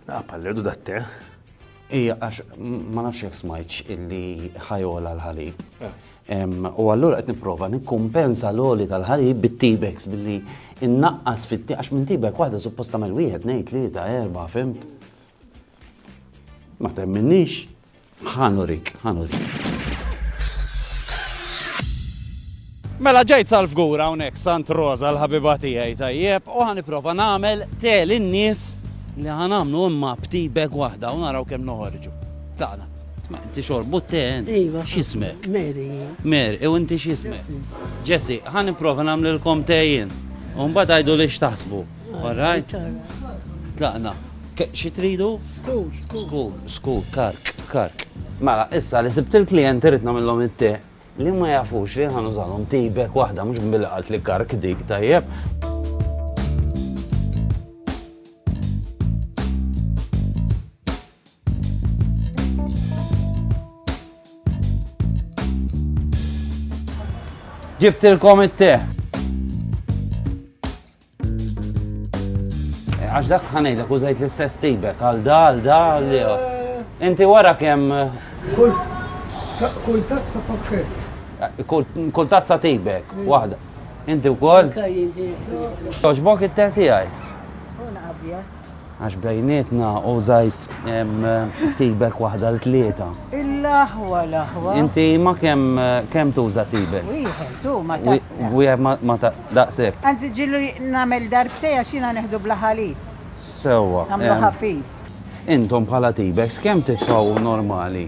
Ah, pallerdu da te. Ija, għax ma nafx jek smajċ illi ħajola l-ħalib. Eh. U għallura qed nipprova nikkumpensa l-oli tal-ħalib bit-tibex billi innaqqas fit għax minn tibek waħda supposta mal wieħed ngħid li ta' erba' fimt. Ma temminniex. Ħa nurik, ħa nurik. Mela ġejt sal-fgur hawnhekk Sant Rosa l-ħabiba tiegħi tajjeb u ħaniprofa nagħmel tel in-nies li ħanamlu imma bti beg waħda u naraw kemm noħorġu. Tagħna. Inti xorbu ten. Iva. X'ismek? Mary. Mary, u inti x'ismek? Jessi, ħaniprofa nagħmlilkom tejjin. U mbagħad għidu li x'taħsbu. All right. Tlaqna. Xi tridu? Skur, skur. Skur, skur, kark, kark. Mela, issa li sibt il-klient irid nagħmilhom it-te li ma jafux li ħan użalhom tibek waħda mhux billi qalt li kark dik tajjeb. Ġibtilkom it-te. Għax dak ħanejda kużajt l-istess tibek għal da, għal da, għal li. Eh. Inti wara kemm. Kull tazza pakket. Eh, kull tazza tibek, mm. waħda. Inti wkoll? Toġbok it-teti għaj. Una abjad. Għax bejnietna u żajt tibek waħda l tlieta. Il-aħwa l-aħwa. Inti ma kemm kemm tuża tibek? Wieħed u ma taqsa. Wieħed ma daqshekk. Anzi ġilu nagħmel darbtej għax jiena neħdu bla ħalib. Sewwa. Nagħmlu ħafif. Intom bħala tibeks kemm titfgħu normali?